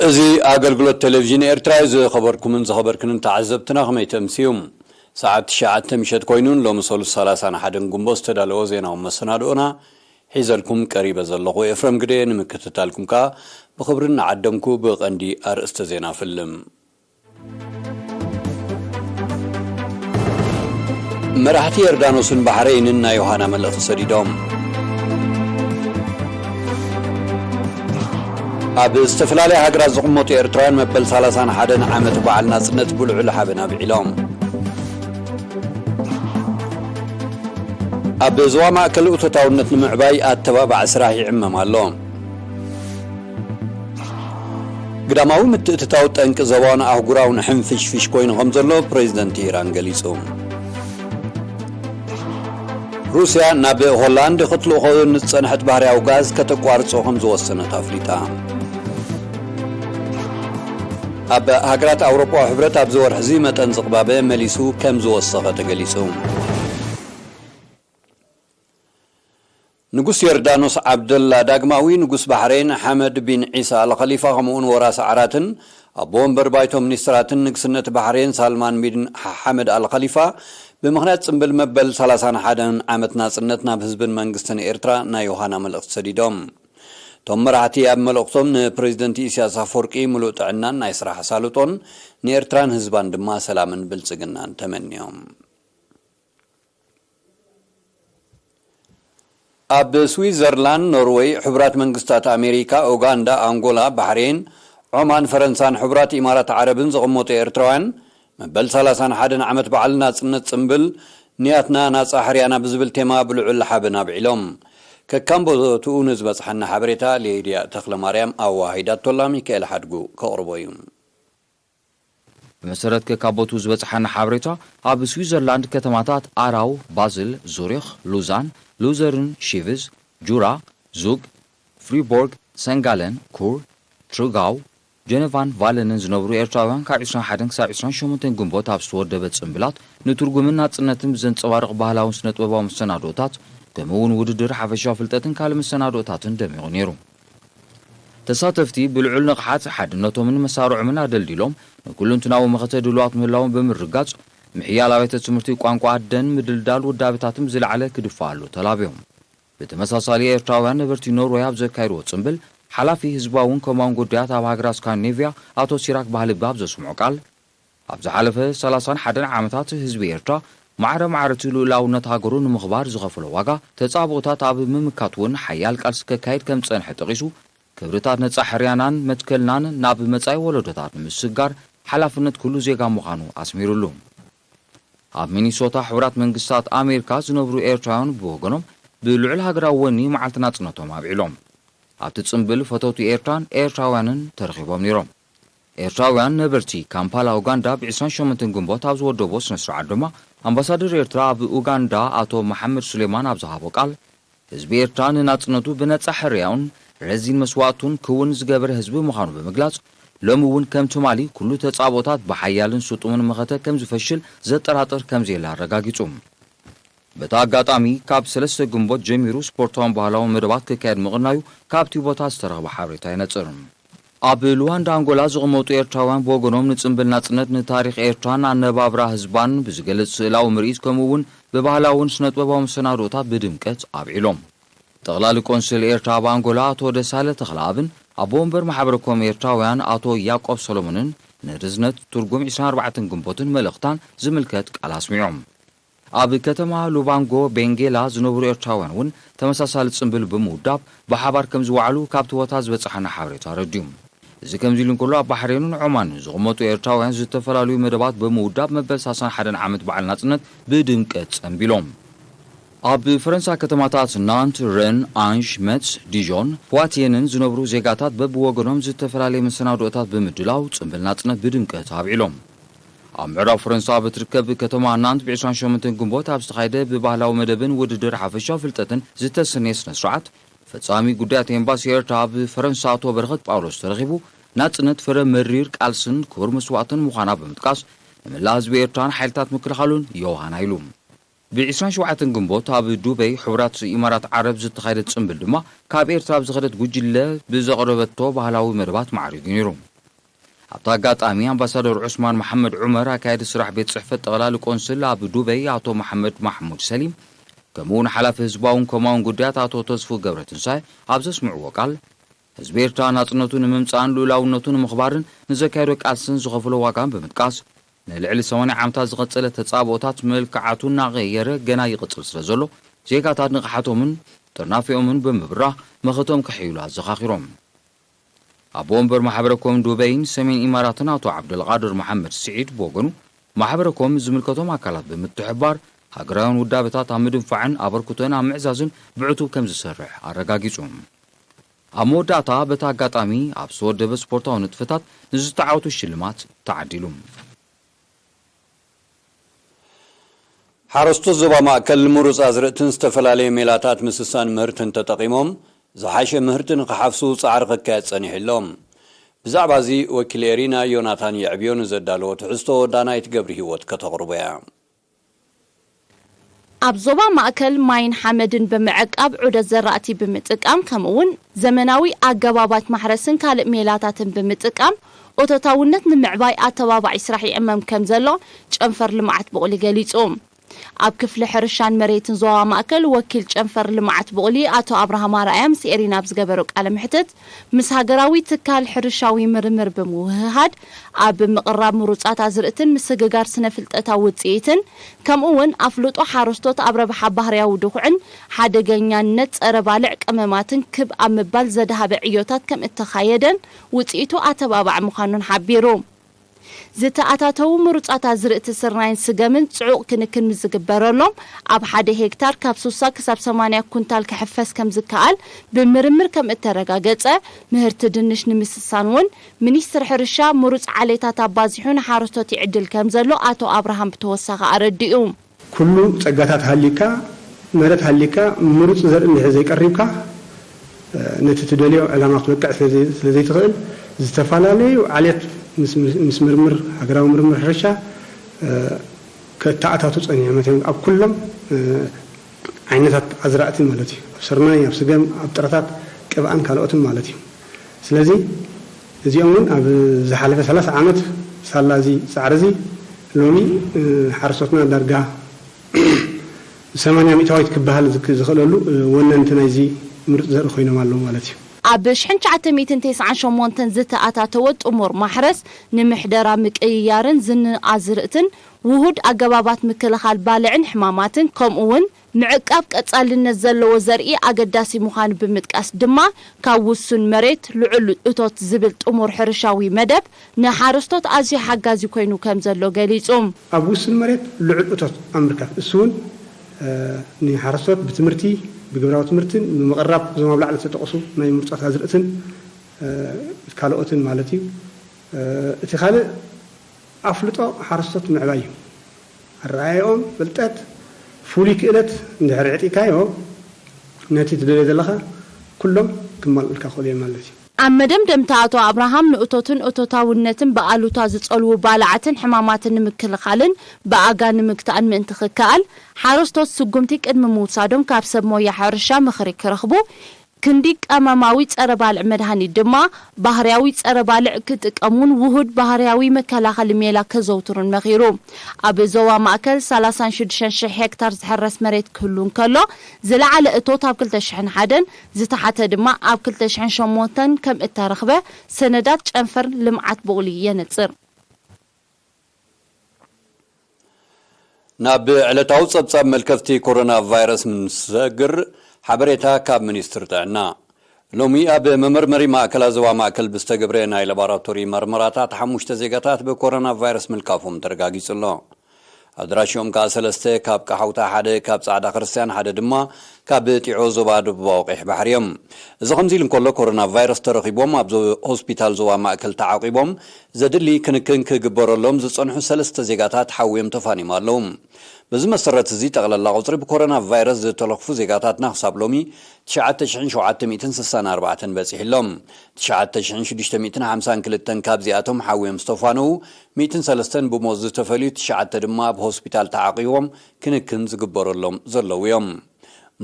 እዚ ኣገልግሎት ቴሌቭዥን ኤርትራ እዩ ዝኸበርኩምን ዝኸበርክንን ተዓዘብትና ከመይ ተምስዩ ሰዓት ትሽዓተ ምሸት ኮይኑ ሎሚ ሰሉስ ሰላሳን ሓደን ግንቦት ዝተዳለወ ዜናዊ መሰናድኦና ሒዘልኩም ቀሪበ ዘለኹ ኤፍረም ግደየ ንምክትታልኩም ከኣ ብኽብሪ እናዓደምኩ ብቐንዲ ኣርእስተ ዜና እፍልም። መራሕቲ የርዳኖስን ባሕረይንን ናይ ዮሃና መልእኽቲ ሰዲዶም። ኣብ ዝተፈላለያ ሃገራት ዝቕመጡ ኤርትራውያን መበል ሰላሳን ሓደን ዓመት በዓል ናጽነት ብልዑል ሓበን ኣብዒሎም። ኣብ ዞባ ማእከል እቶታውነት ንምዕባይ ኣተባባዒ ስራሕ ይዕመም ኣሎ። ግዳማዊ ምትእትታው ጠንቂ ዞባውን ኣህጉራውን ሕንፍሽፍሽ ኮይኑ ከምዘሎ ፕረዚደንት ኢራን ገሊጹ። ሩስያ ናብ ሆላንድ ክትልእኾ ንዝጸንሐት ባህርያዊ ጋዝ ከተቋርጾ ከምዝወሰነት ኣፍሊጣ። ኣብ ሃገራት ኣውሮጳዊ ሕብረት ኣብዚ ወርሒ'ዚ መጠን ዝቕባበ መሊሱ ከም ዝወሰኸ ተገሊጹ። ንጉስ ዮርዳኖስ ዓብደላ ዳግማዊ፣ ንጉስ ባሕሬን ሓመድ ቢን ዒሳ ኣል ኸሊፋ ከምኡ'ውን ወራሲ ዓራትን ኣቦ ወንበር ባይቶ ሚኒስትራትን ንግስነት ባሕሬን ሳልማን ቢን ሓመድ ኣል ኸሊፋ ብምኽንያት ጽምብል መበል ሰላሳን ሓደን ዓመት ናጽነት ናብ ህዝብን መንግስትን ኤርትራ ናይ ዮሃና መልእኽቲ ሰዲዶም። እቶም መራሕቲ ኣብ መልእኽቶም ንፕረዚደንት ኢሳያስ ኣፍወርቂ ምሉእ ጥዕናን ናይ ስራሕ ኣሳልጦን፣ ንኤርትራን ህዝባን ድማ ሰላምን ብልጽግናን ተመንዮም። ኣብ ስዊዘርላንድ፣ ኖርወይ፣ ሕቡራት መንግስታት ኣሜሪካ፣ ኡጋንዳ፣ ኣንጎላ፣ ባሕሬን፣ ዖማን፣ ፈረንሳን ሕቡራት ኢማራት ዓረብን ዝቕመጡ ኤርትራውያን መበል ሰላሳን ሓደን ዓመት በዓል ናጽነት ጽምብል፣ ንያትና ናጻ ሕርያና ብዝብል ቴማ ብልዑል ሓበን ኣብዒሎም። ከካም ቦትኡ ንዝበጽሓና ሓበሬታ ሊድያ ተኽለማርያም ኣወሃሂዳቶላ ሚካኤል ሓድጉ ከቕርቦ እዩ። ብመሰረት ከካብ ቦትኡ ዝበጽሓና ሓበሬታ፣ ኣብ ስዊዘርላንድ ከተማታት ኣራው፣ ባዝል፣ ዙሪኽ፣ ሉዛን፣ ሉዘርን፣ ሺቭዝ፣ ጁራ፣ ዙግ፣ ፍሪቦርግ፣ ሰንጋለን፣ ኩር፣ ትሩጋው፣ ጀነቫን ቫለንን ዝነብሩ ኤርትራውያን ካብ ዕስራን ሓደን ክሳብ ዕስራን ሸሞንተን ግንቦት ኣብ ዝተወደበ ጽምብላት ንትርጉምን ናጽነትን ብዘንጸባርቕ ባህላውን ስነጥበባውን መሰናድኦታት ከምኡ እውን ውድድር ሓፈሻዊ ፍልጠትን ካልእ መሰናድኦታትን ደሚቑ ነይሩ። ተሳተፍቲ ብልዑል ንቕሓት ሓድነቶምን መሳርዖምን ኣደልዲሎም ንኩሉንትናዊ መኸተ ድሉዋት ምህላዎም ብምርግጋጽ ምሕያል ኣብያተ ትምህርቲ ቋንቋ ኣደን ምድልዳል ውዳበታትን ብዝለዓለ ክድፋኣሉ ተላብዮም። ብተመሳሳሊ ኤርትራውያን ነበርቲ ኖርወይ ኣብ ዘካየድዎ ጽምብል፣ ሓላፊ ህዝባውን ኮማውን ጉዳያት ኣብ ሃገራት ስካንዲኔቭያ ኣቶ ሲራክ ባህልቢ ኣብ ዘስምዖ ቃል፣ ኣብ ዝሓለፈ ሰላሳን ሓደን ዓመታት ህዝቢ ኤርትራ ማዕረ ማዕረ'ቲ ልኡላውነት ሃገሩ ንምኽባር ዝኸፈሎ ዋጋ፣ ተጻብኦታት ኣብ ምምካት'ውን ሓያል ቃልሲ ከካይድ ከም ዝጸንሐ ጠቒሱ፣ ክብርታት ነጻ ሕርያናን መትከልናን ናብ መጻኢ ወለዶታት ንምስግጋር ሓላፍነት ኩሉ ዜጋ ምዃኑ ኣስሚርሉ። ኣብ ሚኒሶታ ሕቡራት መንግስታት ኣሜሪካ ዝነብሩ ኤርትራውያን ብወገኖም ብልዑል ሃገራዊ ወኒ መዓልቲ ናጽነቶም ኣብዒሎም። ኣብቲ ጽምብል ፈተውቲ ኤርትራን ኤርትራውያንን ተረኺቦም ነይሮም። ኤርትራውያን ነበርቲ ካምፓላ ኡጋንዳ ብ ዕስራን ሸሞንተን ግንቦት ኣብ ዝወደቦ ስነ-ስርዓት ድማ ኣምባሳደር ኤርትራ ኣብ ኡጋንዳ ኣቶ መሓመድ ሱሌማን ኣብ ዝሃቦ ቃል ህዝቢ ኤርትራ ንናጽነቱ ብነጻ ሕርያኡን ረዚን መስዋእቱን ክውን ዝገበረ ህዝቢ ምዃኑ ብምግላጽ፣ ሎሚ እውን ከም ትማሊ ኩሉ ተጻብኦታት ብሓያልን ስጡምን መኸተ ከም ዝፈሽል ዘጠራጥር ከም ዘየለ ኣረጋጊጹ። በቲ ኣጋጣሚ፣ ካብ ሰለስተ ግንቦት ጀሚሩ ስፖርታውን ባህላውን መደባት ክካየድ ምቕናዩ ካብቲ ቦታ ዝተረኽበ ሓበሬታ የነጽር። ኣብ ሉዋንዳ ኣንጎላ ዝቕመጡ ኤርትራውያን ብወገኖም ንጽምብል ናጽነት ንታሪኽ ኤርትራን ኣነባብራ ህዝባን ብዝገልጽ ስእላዊ ምርኢት ከምኡ እውን ብባህላውን ስነጥበባዊ መሰናድኦታት ብድምቀት ኣብዒሎም። ጠቕላሊ ቆንስል ኤርትራ ኣብ ኣንጎላ ኣቶ ደሳለ ተኽለኣብን ኣቦ ወንበር ማሕበረ ኮም ኤርትራውያን ኣቶ ያቆብ ሰሎሞንን ንርዝነት ትርጉም ዕስራን ኣርባዕተን ግንቦትን መልእኽታን ዝምልከት ቃል ኣስሚዖም። ኣብ ከተማ ሉባንጎ፣ ቤንጌላ፣ ዝነብሩ ኤርትራውያን እውን ተመሳሳሊ ጽምብል ብምውዳብ ብሓባር ከም ዝወዓሉ ካብቲ ቦታ ዝበጸሓና ሓበሬታ ኣረዲኡ። እዚ ከምዚ ኢሉ እንከሎ፣ ኣብ ባሕሬንን ዖማንን ዝቕመጡ ኤርትራውያን ዝተፈላለዩ መደባት ብምውዳብ መበል ሳሳን ሓደን ዓመት በዓል ናጽነት ብድምቀት ጸምቢሎም። ኣብ ፈረንሳ ከተማታት ናንት፣ ረን፣ ኣንዥ፣ መትስ፣ ዲዦን፣ ፖዋትየንን ዝነብሩ ዜጋታት በብወገኖም ዝተፈላለየ መሰናድኦታት ብምድላው ጽምብል ናጽነት ብድምቀት ኣብዒሎም። ኣብ ምዕራብ ፈረንሳ ኣብ እትርከብ ከተማ ናንት ብ ዕስራን ሸሞንተን ግንቦት ኣብ ዝተኻየደ ብባህላዊ መደብን ውድድር ሓፈሻዊ ፍልጠትን ዝተሰነየ ስነ-ስርዓት፣ ፈጻሚ ጉዳያት ኤምባሲ ኤርትራ ኣብ ፈረንሳ ኣቶ በረኸት ጳውሎስ ተረኺቡ ናጽነት ፍረ መሪር ቃልስን ክቡር መስዋእትን ምዃና ብምጥቃስ ንመላእ ህዝቢ ኤርትራን ሓይልታት ምክልኻሉን ዮሃና ኢሉ። ብ ዕስራን ሸውዓተን ግንቦት ኣብ ዱበይ ሕቡራት ኢማራት ዓረብ ዝተኻየደ ጽምብል ድማ ካብ ኤርትራ ብ ዝኸደት ጉጅለ ብ ዘቕረበቶ ባህላዊ መደባት ማዕሪጉ ነይሩ። ኣብቲ ኣጋጣሚ ኣምባሳደር ዑስማን መሓመድ ዑመር፣ ኣካያዲ ስራሕ ቤት ጽሕፈት ጠቕላሊ ቆንስል ኣብ ዱበይ ኣቶ መሓመድ ማሕሙድ ሰሊም ከምኡ'ውን ሓላፊ ህዝባውን ኮማውን ጉዳያት ኣቶ ተስፉ ገብረትንሳኤ ኣብ ዘስምዕዎ ቃል፣ ህዝቢ ኤርትራ ናጽነቱ ንምምጻእን ልኡላውነቱ ንምኽባርን ንዘካየዶ ቃልስን ዝኸፈሎ ዋጋን ብምጥቃስ፣ ንልዕሊ ሰማንያ ዓመታት ዝቐጸለ ተጻብኦታት መልክዓቱ እናቐየረ ገና ይቕጽል ስለዘሎ፣ ዜጋታት ንቕሓቶምን ጥርናፌኦምን ብምብራህ መኸተኦም ከሐይሉ ኣዘኻኺሮም። ኣቦ ወንበር ማሕበረ ኮም ዱበይን ሰሜን ኢማራትን ኣቶ ዓብደልቓድር መሓመድ ስዒድ ብወገኑ፣ ማሕበረ ኮም ምስ ዝምልከቶም ኣካላት ብምትሕብባር ሃገራውያን ውዳበታት ኣብ ምድንፋዕን ኣበርክቶኤን ኣብ ምዕዛዝን ብዕቱብ ከምዝሰርሕ ኣረጋጊጹ። ኣብ መወዳእታ በቲ ኣጋጣሚ ኣብ ዝተወደበ ስፖርታዊ ንጥፈታት ንዝተዓወቱ ሽልማት ተዓዲሉ። ሓረስቶት ዞባ ማእከል ንምሩፅ ኣዝርእትን ዝተፈላለየ ሜላታት ምስሳን ምህርትን ተጠቒሞም ዝሓሸ ምህርቲ ንክሓፍሱ ፃዕሪ ክካየድ ፀኒሑ ኣሎ። ብዛዕባ እዚ ወኪል ኤሪና ዮናታን የዕብዮ ንዘዳለዎ ትሕዝቶ ዳናይት ገብሪሂወት ከተቕርቦ እያ። ኣብ ዞባ ማእከል ማይን ሓመድን ብምዕቃብ ዑደት ዘራእቲ ብምጥቃም ከምኡ'ውን ዘመናዊ ኣገባባት ማሕረስን ካልእ ሜላታትን ብምጥቃም ኦቶታውነት ንምዕባይ ኣተባባዒ ስራሕ ይዕመም ከምዘሎ ጨንፈር ልምዓት ቡቕሊ ገሊጹ። ኣብ ክፍሊ ሕርሻን መሬትን ዞባ ማእከል ወኪል ጨንፈር ልምዓት ቡቕሊ ኣቶ ኣብርሃም ኣርኣያ ምስ ኤሪና ኣብ ዝገበሮ ቃለ መሕትት፣ ምስ ሃገራዊ ትካል ሕርሻዊ ምርምር ብምውህሃድ ኣብ ምቕራብ ምሩፃት ኣዝርእትን ምስግጋር ስነ ፍልጠታዊ ውፅኢትን ከምኡ እውን ኣፍልጦ ሓረስቶት ኣብ ረብሓ ባህርያዊ ድኹዕን ሓደገኛነት ፀረ ባልዕ ቀመማትን ክብ ኣብ ምባል ዘድሃበ ዕዮታት ከምእተኻየደን ውፅኢቱ ኣተባባዒ ምዃኑን ሓቢሩ። ዝተኣታተዉ ምሩፃት ኣዝርእቲ ስርናይን ስገምን ፅዑቕ ክንክን ምስ ዝግበረሎም ኣብ ሓደ ሄክታር ካብ ስሳ ክሳብ ሰማንያ ኩንታል ክሕፈስ ከም ዝከኣል ብምርምር ከም እተረጋገፀ ምህርቲ ድንሽ ንምስሳን እውን ሚኒስትር ሕርሻ ምሩፅ ዓሌታት ኣባዚሑ ንሓረስቶት ይዕድል ከም ዘሎ ኣቶ ኣብርሃም ብተወሳኺ ኣረዲኡ። ኩሉ ጸጋታት ሃልዩካ መረት ሃልዩካ ምሩጽ ዘርኢ እንድሕር ዘይቀሪብካ ነቲ ትደልዮ ዕላማ ክትበቅዕ ስለዘይትኽእል ዝተፈላለዩ ዓሌት ምስ ምርምር ሃገራዊ ምርምር ሕርሻ ከእተኣታቱ ጸኒሑ መታን ኣብ ኩሎም ዓይነታት ኣዝራእቲ ማለት እዩ ኣብ ስርናይ ኣብ ስገም ኣብ ጥረታት ቅብኣን ካልኦትን ማለት እዩ ስለዚ እዚኦም እውን ኣብ ዝሓለፈ ሰላሳ ዓመት ሳላ እዚ ፃዕሪ እዚ ሎሚ ሓረስቶትና ዳርጋ ብ ሰማንያ ሚእታዊት ክበሃል ዝኽእለሉ ወነንቲ ናይዚ ምሩፅ ዘርኢ ኮይኖም ኣለዉ ማለት እዩ። ኣብ ሽሕን ትሽዓተ ሚእትን ተስዓን ሸሞንተን ዝተኣታተወ ጥሙር ማሕረስ ንምሕደራ ምቅይያርን ዝንኣዝርእትን ውሁድ ኣገባባት ምክልኻል ባልዕን ሕማማትን ከምኡ እውን ምዕቃብ ቀፃልነት ዘለዎ ዘርኢ ኣገዳሲ ምዃኑ ብምጥቃስ ድማ ካብ ውሱን መሬት ልዑል እቶት ዝብል ጥሙር ሕርሻዊ መደብ ንሓረስቶት ኣዝዩ ሓጋዚ ኮይኑ ከምዘሎ ገሊፁ። ኣብ ውሱን መሬት ልዑል እቶት ኣብ ምርካብ ንሱ እውን ንሓረስቶት ብትምህርቲ፣ ብግብራዊ ትምህርትን ብምቕራብ እዞም ኣብ ላዕሊ ዝተጠቕሱ ናይ ምርፆት ኣዝርእትን ካልኦትን ማለት እዩ። እቲ ካልእ ኣፍልጦ ሓረስቶት ምዕባይ እዩ። ኣረኣእያኦም፣ ፍልጠት፣ ፍሉይ ክእለት እንድሕር ኣዕጢካዮ ነቲ ትደልዮ ዘለኻ ኩሎም ክማልኡልካ ይኽእሉ እዮም ማለት እዩ። ኣብ መደምደምታ ኣቶ ኣብርሃም ንእቶትን እቶታውነትን ብኣሉታ ዝጸልዉ ባልዓትን ሕማማትን ንምክልኻልን ብኣጋ ንምግታእን ምእንቲ ክከኣል ሓረስቶት ስጉምቲ ቅድሚ ምውሳዶም ካብ ሰብ ሞያ ሕርሻ ምኽሪ ክረኽቡ ክንዲ ቀመማዊ ጸረ-ባልዕ መድሃኒት ድማ፣ ባህርያዊ ጸረ-ባልዕ ክጥቀሙን ውሁድ ባህርያዊ መከላኸሊ ሜላ ከዘውትሩን መኺሩ። ኣብ ዞባ ማእከል ሰላሳን ሽዱሽተን ሽሕ ሄክታር ዝሕረስ መሬት ክህሉ እንከሎ፣ ዝለዓለ እቶት ኣብ ክልተ ሽሕን ሓደን፣ ዝተሓተ ድማ ኣብ ክልተ ሽሕን ሸሞንተን ከምእተረኽበ ሰነዳት ጨንፈር ልምዓት ቡቕሊ የነጽር። ናብ ዕለታዊ ጸብጻብ መልከፍቲ ኮሮና ቫይረስ ምስግር ሓበሬታ ካብ ሚኒስትሪ ጥዕና ሎሚ ኣብ መመርመሪ ማእከላት ዞባ ማእከል ብዝተገብረ ናይ ላቦራቶሪ መርመራታት ሓሙሽተ ዜጋታት ብኮሮና ቫይረስ ምልካፎም ተረጋጊጹ ኣሎ። ኣድራሽኦም ከኣ ሰለስተ ካብ ቀሓውታ፣ ሓደ ካብ ጻዕዳ ክርስትያን፣ ሓደ ድማ ካብ ጢዖ ዞባ ደቡባዊ ቀይሕ ባሕሪ እዮም። እዚ ከምዚ ኢሉ እንከሎ ኮሮና ቫይረስ ተረኺቦም ኣብ ሆስፒታል ዞባ ማእከል ተዓቚቦም ዘድሊ ክንክን ክግበረሎም ዝጸንሑ ሰለስተ ዜጋታት ሓውዮም ተፋኒዮም ኣለዉ። በዚ መሰረት'ዚ ጠቕላላ ቁጽሪ ብኮሮና ቫይረስ ዝተለኽፉ ዜጋታትና ክሳብ ሎሚ ትሽዓተ ሽሕን ሸውዓተ ሚእትን ስሳን ኣርባዕተን በጺሑ ኣሎ። ትሽዓተ ሽሕን ሽዱሽተ ሚእትን ሓምሳን ክልተን ካብዚኣቶም ሓውዮም ዝተፋነዉ ሚእትን ሰለስተን ብሞት ዝተፈልዩ ትሽዓተ ድማ ኣብ ሆስፒታል ተዓቚቦም ክንክን ዝግበረሎም ዘለዉ'ዮም።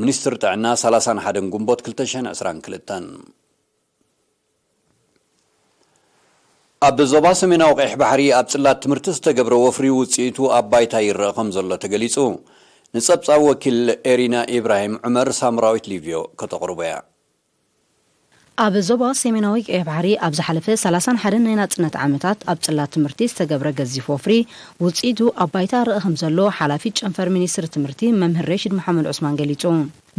ሚኒስትሪ ጥዕና ሰላሳን ሓደን ግንቦት ክልተ ሽሕን ዕስራን ክልተን። ኣብ ዞባ ሰሜናዊ ቀይሕ ባሕሪ ኣብ ጽላት ትምህርቲ ዝተገብረ ወፍሪ ውጽኢቱ ኣብ ባይታ ይረኣ ከምዘሎ ተገሊጹ። ንጸብጻብ ወኪል ኤሪና ኢብራሂም ዑመር ሳምራዊት ሊቭዮ ከተቕርቦ እያ። ኣብ ዞባ ሰሜናዊ ቀይሕ ባሕሪ ኣብ ዝሓለፈ ሰላሳን ሓደን ናይ ናጽነት ዓመታት ኣብ ጽላት ትምህርቲ ዝተገብረ ገዚፍ ወፍሪ ውጽኢቱ ኣብ ባይታ እረኣ ከምዘሎ ሓላፊት ጨንፈር ሚኒስትሪ ትምህርቲ መምህር ሬሺድ መሓመድ ዑስማን ገሊጹ።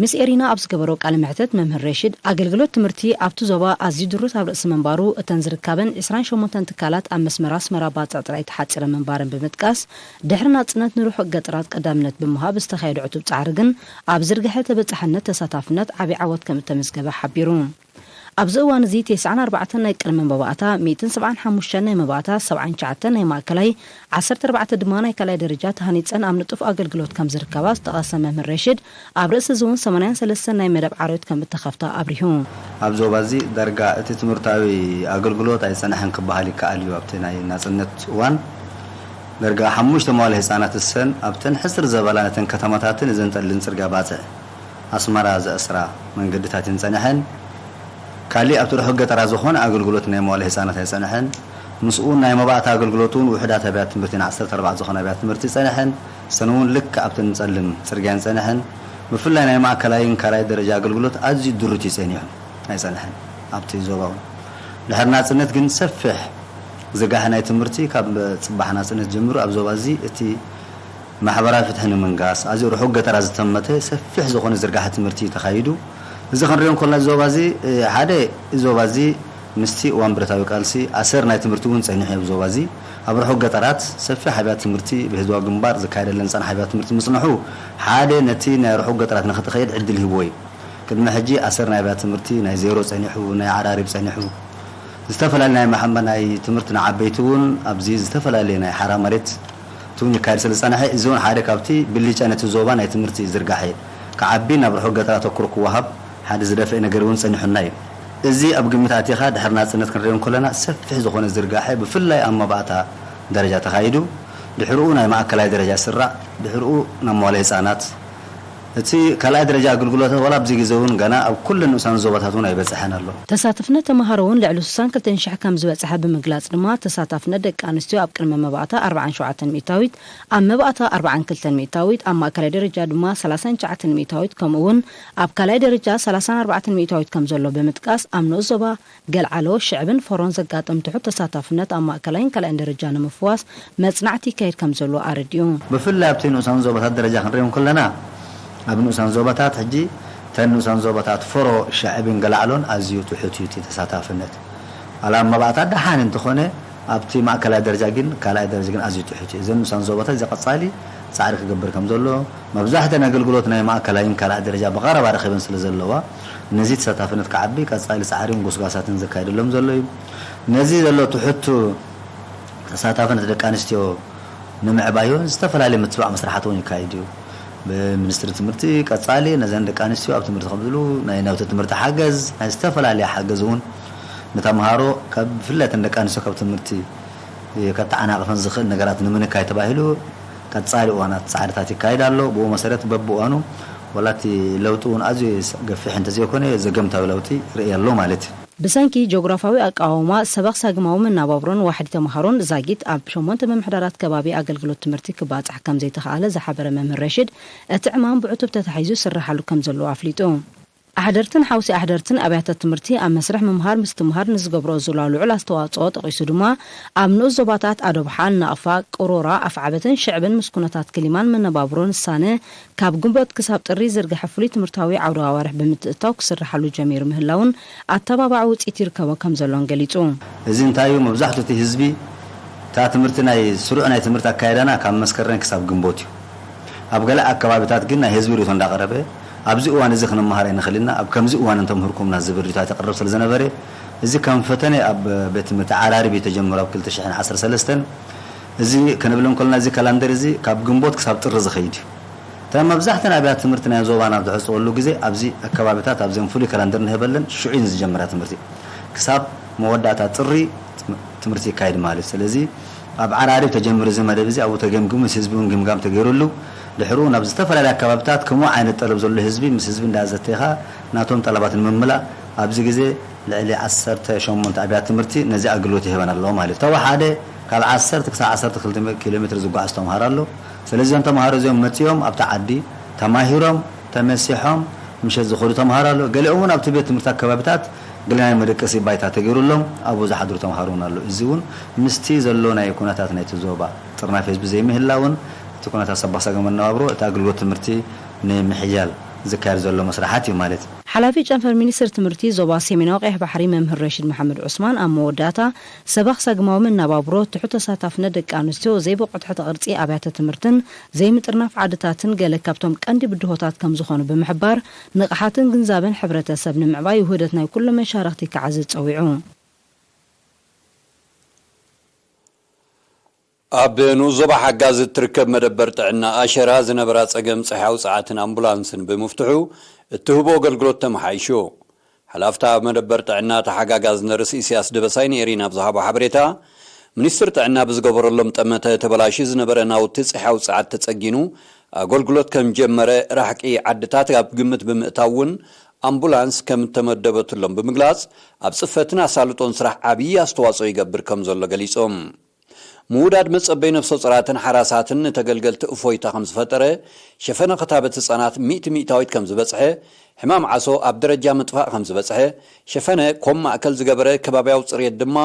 ምስ ኤሪና ኣብ ዝገበሮ ቃለ መሕተት መምህር ሬሽድ ኣገልግሎት ትምህርቲ ኣብቲ ዞባ ኣዝዩ ድሩት ኣብ ርእሲ ምንባሩ እተን ዝርካበን ዕስራን ሸሞንተን ትካላት ኣብ መስመር ኣስመራ ባጽዕ ጥራይ ተሓጺረን ምንባረን ብምጥቃስ ድሕሪ ናጽነት ንርሑቕ ገጠራት ቀዳምነት ብምሃብ ዝተኻየደ ዕቱብ ጻዕሪ ግን ኣብ ዝርግሐ ተበጻሕነት ተሳታፍነት ዓቢ ዓወት ከምእተመዝገበ ሓቢሩ። ኣብዚ እዋን እዚ ቴስዓን ኣርባዕተን ናይ ቅድመ መባእታ፣ ሚእትን ሰብዓን ሓሙሽተን ናይ መባእታ፣ ሰብዓን ትሽዓተን ናይ ማእከላይ፣ ዓሰርተ ኣርባዕተ ድማ ናይ ካልኣይ ደረጃ ተሃኒጸን ኣብ ንጡፍ ኣገልግሎት ከም ዝርከባ ዝጠቐሰ መምህር ሬሽድ፣ ኣብ ርእሲ እዚ'ውን ሰማንያን ሰለስተን ናይ መደብ ዓርዮት ከም እተኸፍታ ኣብሪሁ። ኣብ ዞባ እዚ ዳርጋ እቲ ትምህርታዊ ኣገልግሎት ኣይጸንሐን ክበሃል ይከኣል እዩ፣ ኣብቲ ናይ ናጽነት እዋን ዳርጋ ሓሙሽተ መዋለ ህጻናት እሰን ኣብተን ሕጽር ዘበላ ነተን ከተማታትን እዘን ጠልን ጽርግያ ባጽዕ፣ ኣስመራ ዘእስራ መንገድታት እየን ጸኒሐን። ካሊእ ኣብቲ ርሑቕ ገጠራት ዝኾነ ኣገልግሎት ናይ መዋእለ ህጻናት ኣይጸንሐን። ምስኡ ናይ መባእታ ኣገልግሎት እውን ውሑዳት ኣብያተ ትምህርቲ ን ዓሰርተ ኣርባዕተ ዝኾና ኣብያተ ትምህርቲ ጸኒሐን። እሰን እውን ልክዕ ኣብተን ጸልም ጽርግያ እየን ጸኒሐን። ብፍላይ ናይ ማእከላይን ካልኣይ ደረጃ ኣገልግሎት ኣዝዩ ድሩት እዩ ጸኒሑ። ኣይጸንሐን ኣብቲ ዞባ እውን። ድሕሪ ናጽነት ግን ሰፊሕ ዝርጋሐ ናይ ትምህርቲ ካብ ጽባሕ ናጽነት ጀሚሩ ኣብ ዞባ እዚ እቲ ማሕበራዊ ፍትሒ ንምንጋስ ኣብዚ ርሑቕ ገጠራት ዝተመተ ሰፊሕ ዝኾነ ዝርጋሐ ትምህርቲ እዩ ተኻይዱ። እዚ ክንሪኦ እንከሎና እዚ ዞባ እዚ ሓደ እዚ ዞባ እዚ ምስቲ እዋን ብረታዊ ቃልሲ ኣሰር ናይ ትምህርቲ እውን ጸኒሑ ኣብዚ ዞባ እዚ ኣብ ርሑቕ ገጠራት ሰፊሕ ኣብያት ትምህርቲ ብህዝባዊ ግንባር ዝካየደለን ዝጸንሓ ኣብያት ትምህርቲ ምጽንሑ ሓደ ነቲ ናይ ርሑቕ ገጠራት ንክትኸይድ ዕድል ሂብዎ እዩ። ቅድሚ ሕጂ ኣሰር ናይ ኣብያት ትምህርቲ ናይ ዜሮ ጸኒሑ ናይ ዓራሪብ ጸኒሑ ዝተፈላለዩ ናይ ናይ ትምህርቲ ንዓበይቲ እውን ኣብዚ ዝተፈላለየ ናይ ሓራ መሬት ትውኝ ይካየድ ስለ ዝጸንሐ፣ እዚውን ሓደ ካብቲ ብሊጫ ነቲ ዞባ ናይ ትምህርቲ ዝርጋሐ ክዓቢ ናብ ርሑቕ ገጠር ኣተኩሮ ክወሃብ ሓደ ዝደፍኤ ነገር እውን ጸኒሑና እዩ። እዚ ኣብ ግምት ኣእቲኻ ድሕሪ ናጽነት ክንሪኦ እንከለና ሰፊሕ ዝኾነ ዝርጋሐ ብፍላይ ኣብ መባእታ ደረጃ ተኻይዱ ድሕርኡ ናይ ማእከላይ ደረጃ ስራዕ ድሕርኡ ናብ መዋለ ህጻናት እቲ ካልኣይ ደረጃ ኣግልግሎታት ዋላ ኣብዚ ግዜ እውን ገና ኣብ ኩለን ንኡሳን ዞባታት እውን ኣይበፀሐን ኣሎ። ተሳትፍነት ተምሃሮ እውን ልዕሊ ስሳን ክልተን ሽሕ ከም ዝበፀሐ ብምግላፅ ድማ ተሳታፍነት ደቂ ኣንስትዮ ኣብ ቅድመ መባእታ ኣርብዓን ሸውዓተን ሚእታዊት፣ ኣብ መባእታ ኣርብዓን ክልተን ሚእታዊት፣ ኣብ ማእከላይ ደረጃ ድማ ሰላሳን ትሽዓተን ሚእታዊት ከምኡ እውን ኣብ ካልኣይ ደረጃ ሰላሳን ኣርባዕተን ሚእታዊት ከም ዘሎ ብምጥቃስ ኣብ ንኡስ ዞባ ገልዓሎ፣ ሽዕብን ፎሮን ዘጋጥም ትሑት ተሳታፍነት ኣብ ማእከላይን ካልኣይን ደረጃ ንምፍዋስ መጽናዕቲ ይካየድ ከምዘሎ ኣረዲኡ። ብፍላይ ኣብቲ ንኡሳን ዞባታት ደረጃ ክንሪኦ እንክለና፣ ኣብ ንኡሳን ዞባታት ሕጂ እተን ንኡሳን ዞባታት ፎሮ፣ ሽዕብን ገላዕሎን ኣዝዩ ትሑት እዩ እቲ ተሳታፍነት። ዋላ ኣብ መባእታ ደሓን እንተኾነ ኣብቲ ማእከላይ ደረጃ ግን ካልኣይ ደረጃ ግን ኣዝዩ ትሑት እዩ። እዘን ንኡሳን ዞባታት እዚ ቀጻሊ ጻዕሪ ክገብር ከምዘለዎ፣ መብዛሕተን ኣገልግሎት ናይ ማእከላይን ካልኣይ ደረጃ ብቐረባ ረኺበን ስለዘለዋ፣ ነዚ ተሳታፍነት ክዓቢ ቀጻሊ ጻዕሪን ጎስጓሳትን ዘካይደሎም ዘሎ እዩ። ነዚ ዘሎ ትሑት ተሳታፍነት ደቂ ኣንስትዮ ንምዕባይ እውን ዝተፈላለዩ ምትብባዕ መስርሓት እውን ይካይድ እዩ። ብሚኒስትሪ ትምህርቲ ቀጻሊ ነዘን ደቂ ኣንስትዮ ኣብ ትምህርቲ ከምዝሉ ናይ ናውቲ ትምህርቲ ሓገዝ ናይ ዝተፈላለየ ሓገዝ እውን ንተምሃሮ ካብ ብፍለተን ደቂ ኣንስትዮ ካብ ትምህርቲ ከተዓናቕፈን ዝኽእል ነገራት ንምንካይ ተባሂሉ ቀጻሊ እዋናት ጻዕርታት ይካይድ ኣሎ። ብኡ መሰረት በብእዋኑ ዋላ እቲ ለውጢ እውን ኣዝዩ ገፊሕ እንተዘይኮነ ዘገምታዊ ለውጢ ርእየ ኣሎ ማለት እዩ። ብሰንኪ ጂኦግራፋዊ ኣቀዋውማ ሰበኽ ሳግማዊ መናባብሮን ዋሕዲ ተምሃሮን ዛጊት ኣብ ሸሞንተ ምምሕዳራት ከባቢ ኣገልግሎት ትምህርቲ ክባፃሕ ከምዘይተኽኣለ ዝሓበረ መምህር ረሺድ እቲ ዕማም ብዕቱብ ተታሒዙ ይስረሓሉ ከምዘሎ ኣፍሊጡ። ኣሕደርትን ሓውሲ ኣሕደርትን ኣብያተ ትምህርቲ ኣብ መስርሕ ምምሃር ምስትምሃር ንዝገብርኦ ዝላ ልዑል ኣስተዋፅኦ ጠቒሱ ድማ ኣብ ንኡስ ዞባታት ኣዶብሓ፣ ናቕፋ፣ ቅሮራ፣ ኣፍዓበትን ሽዕብን ምስ ኩነታት ክሊማን መነባብሮን ዝሳነ ካብ ግንቦት ክሳብ ጥሪ ዝርገሐ ፍሉይ ትምህርታዊ ዓውደ ኣዋርሕ ብምትእትታው ክስርሓሉ ጀሚሩ ምህላዉን ኣተባባዒ ውፅኢት ይርከቦ ከምዘሎን ገሊፁ። እዚ እንታይ እዩ መብዛሕትኡ እቲ ህዝቢ እታ ትምህርቲ ናይ ስሩዕ ናይ ትምህርቲ ኣካይዳና ካብ መስከረን ክሳብ ግንቦት እዩ ኣብ ገለ ኣከባቢታት ግን ናይ ህዝቢ ሪኢቶ እንዳቀረበ ኣብዚ እዋን እዚ ክንመሃር ኣይንክል ኢና ኣብ ከምዚ እዋን እንተምህርኩምና ዝብል ሪኢቶታት የቅርብ ስለዘነበረ እዚ ከም ፈተነ ኣብ ቤት ትምህርቲ ዓራርብ እዩ ተጀምሩ ኣብ ክልተ ሽሕን ዓሰርተ ሰለስተን እዚ ክንብል እንከሎና እዚ ካላንደር እዚ ካብ ግንቦት ክሳብ ጥሪ ዝኸይድ እዩ። እተን መብዛሕተን ኣብያተ ትምህርቲ ናይ ዞባና ኣብ ዝዕጽወሉ ግዜ ኣብዚ ኣከባቢታት ኣብዘን ፍሉይ ካላንደር ንህበለን ሽዑ እዩን ዝጀምራ ትምህርቲ ክሳብ መወዳእታ ጥሪ ትምህርቲ ይካየድ ማለት እዩ። ስለዚ ኣብ ዓራርብ ተጀሚሩ እዚ መደብ እዚ ኣብኡ ተገምጊሙ ምስ ህዝቢ እውን ግምጋም ተገይሩሉ ድሕርኡ ናብ ዝተፈላለያ ኣከባቢታት ከምኡ ዓይነት ጠለብ ዘሎ ህዝቢ ምስ ህዝቢ እንዳኣዘተይካ ናቶም ጠለባት ንምምላእ ኣብዚ ግዜ ልዕሊ ዓሰርተ ሸሞንተ ኣብያት ትምህርቲ ነዚ ኣገልግሎት ይህበን ኣለዎ ማለት እዩ። ተወሓደ ካብ ዓሰርተ ክሳብ ዓሰርተ ክልተ ኪሎ ሜትር ዝጓዓዝ ተምሃሮ ኣሎ። ስለዚ እዞም ተምሃሮ እዚኦም መጺኦም ኣብቲ ዓዲ ተማሂሮም ተመሲሖም ምሸት ዝኸዱ ተምሃሮ ኣሎ። ገሊኦም እውን ኣብቲ ቤት ትምህርቲ ኣከባቢታት ገለ ናይ መደቀሲ ባይታ ተገይሩሎም ኣብኡ ዝሓድሩ ተምሃሮ እውን ኣሎ። እዚ እውን ምስቲ ዘሎ ናይ ኩነታት ናይቲ ዞባ ጥርናፊ ህዝቢ ዘይምህላውን እቲ ኩነታት ሰባሳገ መነባብሮ እቲ ኣገልግሎት ትምህርቲ ንምሕያል ዝካየድ ዘሎ መስርሓት እዩ ማለት ሓላፊ ጨንፈር ሚኒስትሪ ትምህርቲ ዞባ ሰሜናዊ ቀይሕ ባሕሪ መምህር ረሺድ መሓመድ ዑስማን ኣብ መወዳእታ፣ ሰበኽ ሰግማዊ መነባብሮ፣ ትሑት ተሳታፍነት ደቂ ኣንስትዮ፣ ዘይብቑዕ ትሕተ ቅርጺ ኣብያተ ትምህርትን ዘይምጥርናፍ ዓድታትን ገለ ካብቶም ቀንዲ ብድሆታት ከምዝኾኑ ብምሕባር፣ ንቕሓትን ግንዛበን ሕብረተሰብ ንምዕባይ ውህደት ናይ ኩሎም መሻርኽቲ ክዓዝዝ ጸዊዑ። ኣብ ንኡስ ዞባ ሓጋዝ እትርከብ መደበር ጥዕና ኣሸራ ዝነበራ ጸገም ጸሐያዊ ጸዓትን ኣምቡላንስን ብምፍትሑ እትህቦ ኣገልግሎት ተመሓይሹ። ሓላፍታ ኣብ መደበር ጥዕና ተሓጋጋዝ ነርስ ኢሲያስ ደበሳይ ንኤሪና ኣብ ዝሃቦ ሓበሬታ፣ ሚኒስትሪ ጥዕና ብዝገበረሎም ጠመተ ተበላሽዩ ዝነበረ ናውቲ ጸሐያዊ ጸዓት ተጸጊኑ ኣገልግሎት ከምጀመረ ራሕቂ ዓድታት ኣብ ግምት ብምእታው እውን ኣምቡላንስ ከምእተመደበትሎም ብምግላጽ ኣብ ጽፈትን ኣሳልጦን ስራሕ ዓብዪ ኣስተዋጽኦ ይገብር ከምዘሎ ገሊጾም። ምውዳድ መጸበይ ነፍሰጾራትን ሓራሳትን ንተገልገልቲ እፎይታ ከምዝፈጠረ፣ ሸፈነ ክታበት ህጻናት ሚእቲ ሚእታዊት ከምዝበጽሐ፣ ሕማም ዓሶ ኣብ ደረጃ ምጥፋእ ከምዝበጽሐ፣ ሸፈነ ኮም ማእከል ዝገበረ ከባብያዊ ጽርየት ድማ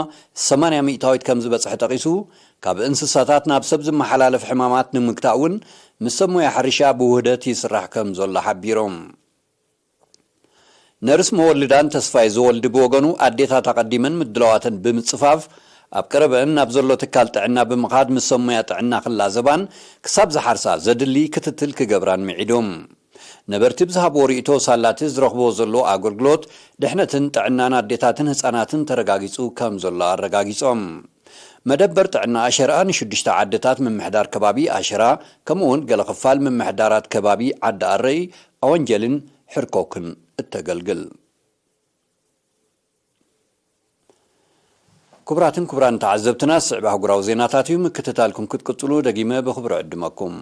ሰማንያ ሚእታዊት ከምዝበጽሐ ጠቒሱ፣ ካብ እንስሳታት ናብ ሰብ ዝመሓላለፍ ሕማማት ንምግታእ እውን ምስ ሰብ ሞያ ሕርሻ ብውህደት ይስራሕ ከምዘሎ ሓቢሮም። ነርስ መወልዳን ተስፋይ ዘወልድ ብወገኑ ኣዴታት ኣቐዲመን ምድላዋተን ብምጽፋፍ ኣብ ቀረበእን ናብ ዘሎ ትካል ጥዕና ብምኻድ ምስ ሰብ ሙያ ጥዕና ክላዘባን ክሳብ ዝሓርሳ ዘድሊ ክትትል ክገብራን ምዒዱ። ነበርቲ ብዝሃብዎ ሪኢቶ ሳላቲ ዝረኽብዎ ዘለዉ ኣገልግሎት ድሕነትን ጥዕናን ኣዴታትን ህጻናትን ተረጋጊጹ ከም ዘሎ ኣረጋጊጾም። መደበር ጥዕና ኣሸርኣ ንሽዱሽተ ዓድታት ምምሕዳር ከባቢ ኣሸራ ከምኡ'ውን ገለ ክፋል ምምሕዳራት ከባቢ ዓዲ ኣረይ ኣወንጀልን ሕርኮክን እተገልግል። ክቡራትን ክቡራን ተዓዘብትና ዝስዕብ ኣህጉራዊ ዜናታት እዩ፣ ምክትታልኩም ክትቅጽሉ ደጊመ ብኽብሪ እዕድመኩም።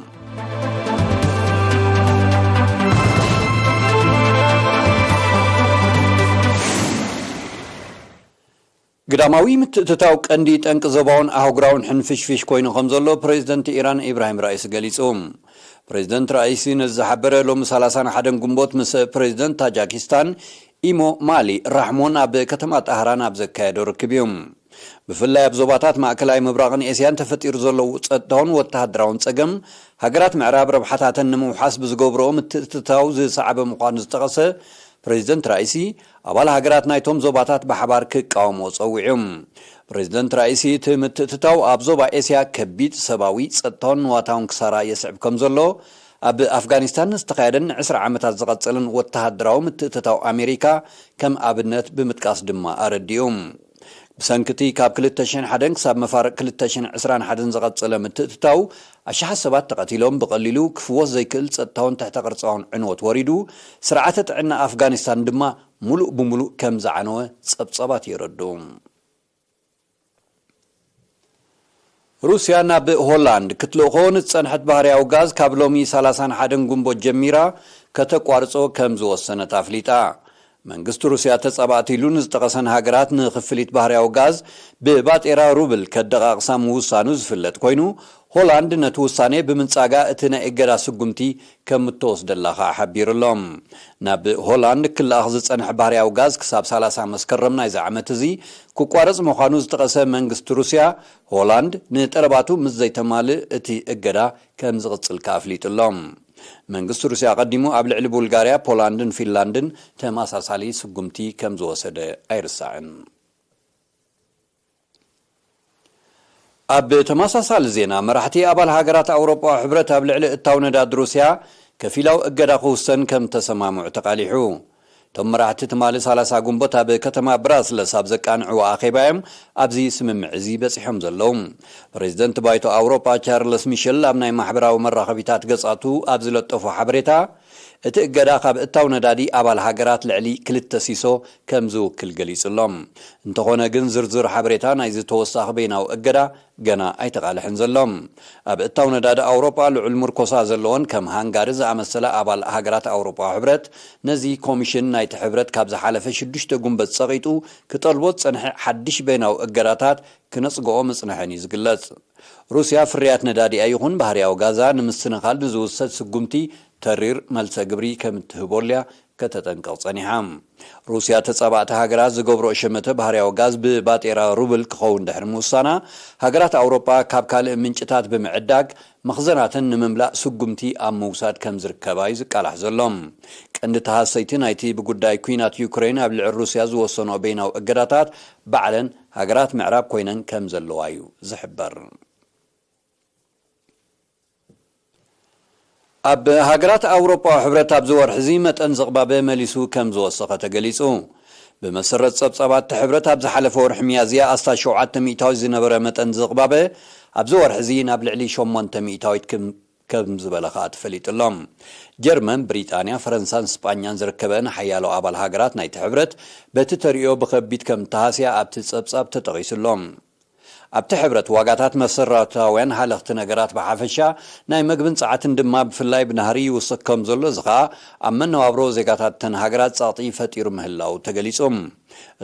ግዳማዊ ምትእትታው ቀንዲ ጠንቂ ዞባውን ኣህጉራውን ሕንፍሽፍሽ ኮይኑ ከምዘሎ ፕረዚደንት ኢራን ኢብራሂም ራኢሲ ገሊጹ። ፕረዚደንት ራኢሲ ነዚ ዝሓበረ ሎሚ ሰላሳን ሓደን ግንቦት ምስ ፕረዚደንት ታጃኪስታን ኢሞ ማሊ ራሕሞን ኣብ ከተማ ጣህራን ኣብ ዘካየዶ ርክብ እዩ። ብፍላይ ኣብ ዞባታት ማእከላይ ምብራቕን ኤስያን ተፈጢሩ ዘሎ ጸጥታውን ወተሃደራውን ጸገም ሃገራት ምዕራብ ረብሓታተን ንምውሓስ ብዝገብርኦ ምትእትታው ዝሰዓበ ምዃኑ ዝጠቐሰ ፕረዚደንት ራኢሲ ኣባል ሃገራት ናይቶም ዞባታት ብሓባር ክቃወምዎ ጸዊዑ። ፕረዚደንት ራኢሲ እቲ ምትእትታው ኣብ ዞባ ኤስያ ከቢድ ሰባዊ፣ ጸጥታውን ንዋታውን ክሳራ የስዕብ ከም ዘሎ፣ ኣብ ኣፍጋኒስታን ዝተኻየደን ንዕስራ ዓመታት ዝቐጸለን ወተሃደራዊ ምትእትታው ኣሜሪካ ከም ኣብነት ብምጥቃስ ድማ ኣረዲኡ። ብሰንኪ እቲ ካብ ክልተ ሽሕን ሓደን ክሳብ መፋርቕ ክልተ ሽሕን ዕስራን ሓደን ዝቐጸለ ምትእትታው፣ ኣሽሓት ሰባት ተቐቲሎም፣ ብቐሊሉ ክፍወስ ዘይክእል ጸጥታውን ትሕተ-ቅርጻውን ዕንወት ወሪዱ፣ ስርዓተ ጥዕና ኣፍጋኒስታን ድማ ምሉእ ብምሉእ ከም ዝዓነወ ጸብጻባት የረድኡ። ሩስያ ናብ ሆላንድ ክትልእኾ ንዝጸንሐት ባህርያዊ ጋዝ ካብ ሎሚ ሰላሳን ሓደን ግንቦት ጀሚራ ከተቋርጾ ከም ዝወሰነት ኣፍሊጣ። መንግስቲ ሩስያ ተጻባእቲ ኢሉ ንዝጠቐሰን ሃገራት ንክፍሊት ባህርያዊ ጋዝ ብባጤራ ሩብል ከደቓቕሳ ምውሳኑ ዝፍለጥ ኮይኑ፣ ሆላንድ ነቲ ውሳኔ ብምንጻጋ እቲ ናይ እገዳ ስጉምቲ ከም እተወስደላ ከኣ ሓቢሩ ኣሎ። ናብ ሆላንድ ክለኣኽ ዝጸንሐ ባህርያዊ ጋዝ ክሳብ ሰላሳ መስከረም ናይዚ ዓመት እዚ ክቋረጽ ምዃኑ ዝጠቐሰ መንግስቲ ሩስያ፣ ሆላንድ ንጠለባቱ ምስ ዘይተማልእ እቲ እገዳ ከም ዝቕጽል ከኣ ኣፍሊጡ ኣሎ። መንግስቲ ሩስያ ኣቐዲሙ ኣብ ልዕሊ ቡልጋርያ፣ ፖላንድን ፊንላንድን ተመሳሳሊ ስጉምቲ ከም ዝወሰደ ኣይርሳዕን። ኣብ ተመሳሳሊ ዜና፣ መራሕቲ ኣባል ሃገራት ኣውሮጳዊ ሕብረት ኣብ ልዕሊ እታው ነዳዲ ሩስያ ከፊላዊ እገዳ ክውሰን ከም እተሰማምዑ ተቓሊሑ። እቶም መራሕቲ ትማሊ ሰላሳ ግንቦት ኣብ ከተማ ብራስለስ ኣብ ዘቃንዕዎ ኣኼባ እዮም ኣብዚ ስምምዕ እዚ በጺሖም ዘለዉ። ፕረዚደንት ባይቶ ኣውሮጳ ቻርለስ ሚሸል ኣብ ናይ ማሕበራዊ መራኸቢታት ገጻቱ ኣብ ዝለጠፎ ሓበሬታ፣ እቲ እገዳ ካብ እታው ነዳዲ ኣባል ሃገራት ልዕሊ ክልተ ሲሶ ከም ዝውክል ገሊጹ ኣሎ። እንተኾነ ግን ዝርዝር ሓበሬታ ናይዚ ተወሳኺ በይናዊ እገዳ ገና ኣይተቓልሐን ዘሎ። ኣብ እታው ነዳዲ ኣውሮጳ ልዑል ምርኮሳ ዘለወን ከም ሃንጋሪ ዝኣመሰላ ኣባል ሃገራት ኣውሮጳዊ ሕብረት ነዚ ኮሚሽን ናይቲ ሕብረት ካብ ዝሓለፈ ሽዱሽተ ጉንበት ጸቒጡ ክጠልቦ ዝጸንሐ ሓድሽ በይናዊ እገዳታት ክነጽግኦ ምጽንሐን እዩ ዝግለጽ። ሩስያ ፍርያት ነዳዲኣ ይኹን ባህርያዊ ጋዛ ንምስትንኻል ንዝውሰድ ስጉምቲ ተሪር መልሰ ግብሪ ከም እትህቦሉ'ያ ከተጠንቅቕ ጸኒሓ። ሩስያ ተጻባእቲ ሃገራት ዝገብርኦ ሸመተ ባህርያዊ ጋዝ ብባጤራ ሩብል ክኸውን ድሕሪ ምውሳና፣ ሃገራት ኣውሮጳ ካብ ካልእ ምንጭታት ብምዕዳግ መኽዘናተን ንምምላእ ስጉምቲ ኣብ ምውሳድ ከም ዝርከባ'ዩ ዝቃላሕ ዘሎ። ቀንዲ ተሃሰይቲ ናይቲ ብጉዳይ ኲናት ዩክረይን ኣብ ልዕሊ ሩስያ ዝወሰንኦ በይናዊ እገዳታት ባዕለን ሃገራት ምዕራብ ኮይነን ከም ዘለዋ'ዩ ዝሕበር። ኣብ ሃገራት ኣውሮጳዊ ሕብረት ኣብዚ ወርሒ'ዚ መጠን ዝቕባበ መሊሱ ከም ዝወሰኸ ተገሊጹ። ብመሰረት ጸብጻባት'ቲ ሕብረት ኣብ ዝሓለፈ ወርሒ ሚያዝያ ኣስታት ሸውዓተ ሚእታዊት ዝነበረ መጠን ዝቕባበ ኣብዚ ወርሒ'ዚ ናብ ልዕሊ ሸሞንተ ሚእታዊት ክብ ከም ዝበለ ከኣ ተፈሊጡ ኣሎ። ጀርመን፣ ብሪጣንያ፣ ፈረንሳን ስጳኛን ዝርከበኣን ሓያሎ ኣባል ሃገራት ናይቲ ሕብረት በቲ ተርእዮ ብኸቢድ ከም እተሃስያ ኣብቲ ጸብጻብ ተጠቒሱ ኣሎ። ኣብቲ ሕብረት ዋጋታት መሰረታውያን ሃለኽቲ ነገራት ብሓፈሻ፣ ናይ መግብን ጸዓትን ድማ ብፍላይ ብናህሪ ይውስኽ ከም ዘሎ፣ እዚ ከኣ ኣብ መነባብሮ ዜጋታት እተን ሃገራት ጸቕጢ ፈጢሩ ምህላዉ ተገሊጹ።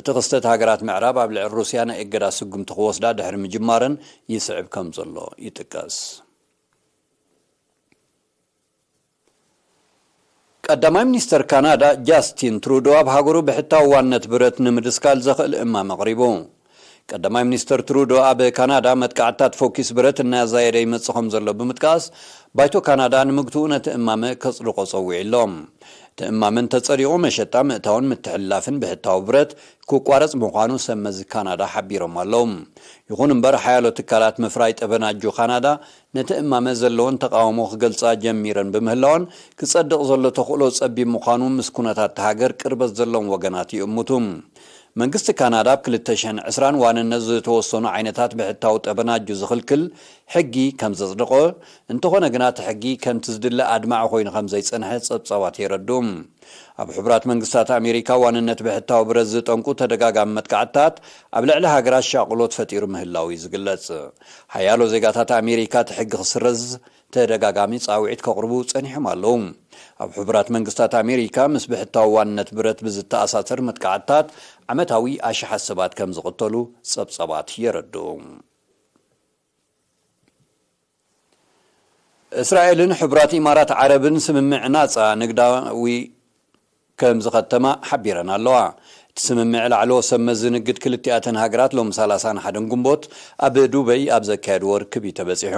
እቲ ክስተት ሃገራት ምዕራብ ኣብ ልዕሊ ሩስያ ናይ እገዳ ስጉምቲ ክወስዳ ድሕሪ ምጅማረን ይስዕብ ከም ዘሎ ይጥቀስ። ቀዳማይ ሚኒስተር ካናዳ ጃስቲን ትሩዶ ኣብ ሃገሩ ብሕታዊ ዋንነት ብረት ንምድስካል ዘኽእል እማመ ኣቕሪቡ። ቀዳማይ ሚኒስተር ትሩዶ ኣብ ካናዳ መጥቃዕትታት ፎኪስ ብረት እናዛየደ ይመጽእ ከምዘሎ ብምጥቃስ ባይቶ ካናዳ ንምግትኡ ነቲ እማመ ከጽድቖ ጸዊዑ ኣሎ። እቲ እማመ እንተጸዲቑ መሸጣ፣ ምእታውን ምትሕልላፍን ብሕታዊ ብረት ክቋረጽ ምዃኑ ሰብ መዚ ካናዳ ሓቢሮም ኣለዉ። ይኹን እምበር ሓያሎ ትካላት ምፍራይ ጠበናጁ ካናዳ ነቲ እማመ ዘለወን ተቓውሞ ክገልጻ ጀሚረን ብምህላወን ክጸድቕ ዘሎ ተኽእሎ ጸቢብ ምዃኑ ምስ ኩነታት እታ ሃገር ቅርበት ዘለዎም ወገናት ይእምቱ። መንግስቲ ካናዳ ኣብ ክልተ ሽሕን ዕስራን ዋንነት ዝተወሰኑ ዓይነታት ብሕታዊ ጠበናጁ ዝኽልክል ሕጊ ከም ዘጽደቖ፣ እንተኾነ ግና እቲ ሕጊ ከምቲ ዝድለ ኣድማዒ ኮይኑ ከም ዘይጸንሐ ጸብጻባት የረድኡ። ኣብ ሕቡራት መንግስታት ኣሜሪካ ዋንነት ብሕታዊ ብረት ዝጠንቁ ተደጋጋሚ መጥቃዕትታት ኣብ ልዕሊ ሃገራት ሻቕሎት ፈጢሩ ምህላዉ እዩ ዝግለጽ። ሓያሎ ዜጋታት ኣሜሪካ እቲ ሕጊ ክስረዝ ተደጋጋሚ ጻውዒት ከቕርቡ ጸኒሖም ኣለዉ። ኣብ ሕቡራት መንግስታት ኣሜሪካ ምስ ብሕታዊ ዋንነት ብረት ብዝተኣሳሰር መጥቃዕትታት ዓመታዊ ኣሽሓት ሰባት ከም ዝቕተሉ ጸብጻባት የረድኡ። እስራኤልን ሕቡራት ኢማራት ዓረብን ስምምዕ ናጻ ንግዳዊ ከም ዝኸተማ ሓቢረን ኣለዋ። እቲ ስምምዕ ላዕለዎት ሰብ መዚ ንግድ ክልቲኣተን ሃገራት ሎሚ ሰላሳን ሓደን ግንቦት ኣብ ዱበይ ኣብ ዘካየድዎ ርክብ እዩ ተበጺሑ።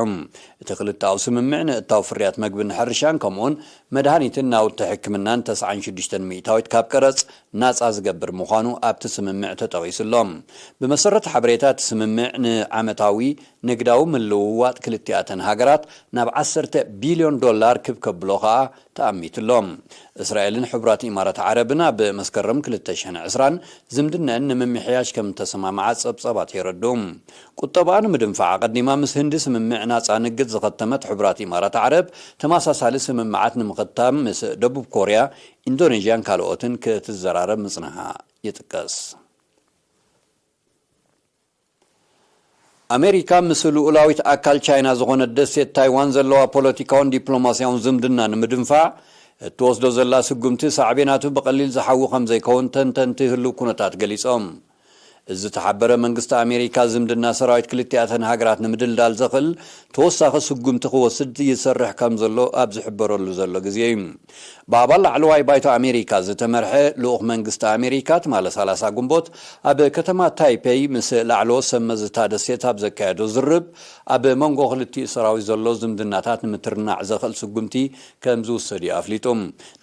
እቲ ክልተኣዊ ስምምዕ ንእታው ፍርያት መግብን ሕርሻን ከምኡ'ውን መድሃኒትን ናውቲ ሕክምናን ተስዓን ሽዱሽተን ሚእታዊት ካብ ቀረጽ ናጻ ዝገብር ምዃኑ ኣብቲ ስምምዕ ተጠቒሱ ኣሎ። ብመሰረት ሓበሬታ እቲ ስምምዕ፣ ንዓመታዊ ንግዳዊ ምልውዋጥ ክልቲኣተን ሃገራት ናብ ዓሰርተ ቢልዮን ዶላር ክብ ከብሎ ከኣ ተኣሚቱ ኣሎ። እስራኤልን ሕቡራት ኢማራት ዓረብን ኣብ መስከረም ክልተ ሽሕን ዕስራን ዝምድነኣን ንምምሕያሽ ከም እተሰማምዓ ጸብጻባት የረድኡ። ቁጠባኣ ንምድንፋዕ ኣቐዲማ ምስ ህንዲ ስምምዕ ናጻ ንግድ ዝኸተመት ሕቡራት ኢማራት ዓረብ፣ ተመሳሳሊ ስምምዓት ንምኽታም ምስ ደቡብ ኮርያ፣ ኢንዶነዥያን ካልኦትን ክትዘራረብ ምጽንሓ ይጥቀስ። ኣመሪካ ምስ ልኡላዊት ኣካል ቻይና ዝኾነት ደሴት ታይዋን ዘለዋ ፖለቲካውን ዲፕሎማስያውን ዝምድና ንምድንፋዕ እትወስዶ ዘላ ስጉምቲ ሳዕቤናቱ ብቐሊል ዝሓዊ ከምዘይከውን ተንተንቲ ህሉው ኩነታት ገሊጾም። እዚ ዝተሓበረ መንግስቲ ኣሜሪካ ዝምድና ሰራዊት ክልቲኣተን ሃገራት ንምድልዳል ዘኽእል ተወሳኺ ስጉምቲ ክወስድ ይሰርሕ ከምዘሎ ኣብ ዝሕበረሉ ዘሎ ግዜ እዩ ብኣባል ላዕለዋይ ባይቶ ኣሜሪካ ዝተመርሐ ልኡኽ መንግስቲ ኣሜሪካ ትማሊ ሰላሳ ግንቦት ኣብ ከተማ ታይፔይ ምስ ላዕለዎት ሰብ መዚ እታ ደሴት ኣብ ዘካየዶ ዝርርብ ኣብ መንጎ ክልቲኡ ሰራዊት ዘሎ ዝምድናታት ንምትርናዕ ዘኽእል ስጉምቲ ከም ዝውሰድ'ዩ ኣፍሊጡ።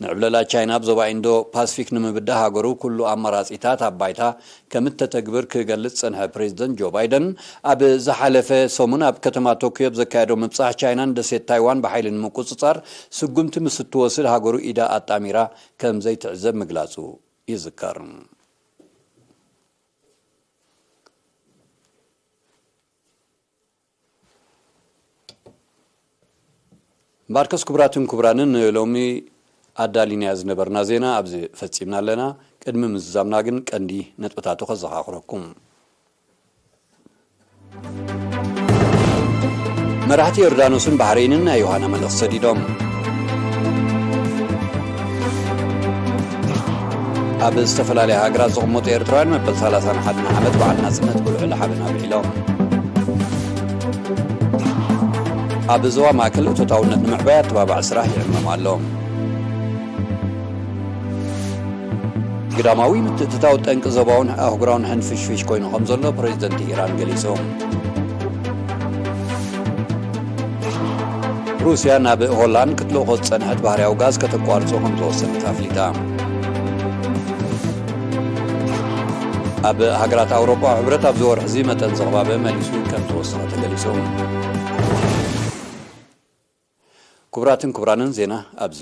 ንዕብለላ ቻይና ኣብ ዞባ ኢንዶ ፓስፊክ ንምብዳህ ሃገሩ ኩሉ ኣማራጺታት ኣብ ባይታ ከም እተተግብር ክገልጽ ዝጸንሐ ፕሬዝደንት ጆ ባይደን፣ ኣብ ዝሓለፈ ሰሙን ኣብ ከተማ ቶክዮ ኣብ ዘካየዶ ምብጻሕ ቻይና ንደሴት ታይዋን ብሓይሊ ንምቁጽጻር ስጉምቲ ምስ እትወስድ ሃገሩ ኢዳ ኣጣሚራ ከም ዘይትዕዘብ ምግላጹ ይዝከር። እምበኣርከስ ክቡራትን ክቡራንን ንሎሚ ኣዳሊናዮ ዝነበርና ዜና ኣብዚ ፈጺምና ኣለና። ቅድሚ ምዝዛምና ግን ቀንዲ ነጥብታቱ ከዘኻኽረኩም። መራሕቲ ዮርዳኖስን ባሕሬንን ናይ ዮሃና መልእኽቲ ሰዲዶም። ኣብ ዝተፈላለያ ሃገራት ዝቕመጡ ኤርትራውያን መበል 31 ዓመት በዓል ናጽነት ጉልዕሊ ሓበን ኣብዒሎም ኣብ ዞባ ማእከል እቶታውነት ንምዕባይ ኣተባባዕ ስራሕ ይዕመም ኣሎ ግዳማዊ ምትእትታው ጠንቂ ዞባውን ኣህጉራውን ሕንፍሽፍሽ ኮይኑ ከም ዘሎ ፕሬዚደንት ኢራን ገሊጹ ሩስያ ናብ ሆላንድ ክትልእኾ ዝጸንሐት ባህርያዊ ጋዝ ከተቋርጾ ከም ዝወሰነት ኣፍሊጣ። ኣብ ሃገራት ኣውሮጳ ሕብረት ኣብዚ ወርሒ እዚ መጠን ዝቕባበ መሊሱ ከም ተወሰነ ተገሊጹ ክቡራትን ክቡራንን ዜና ኣብዚ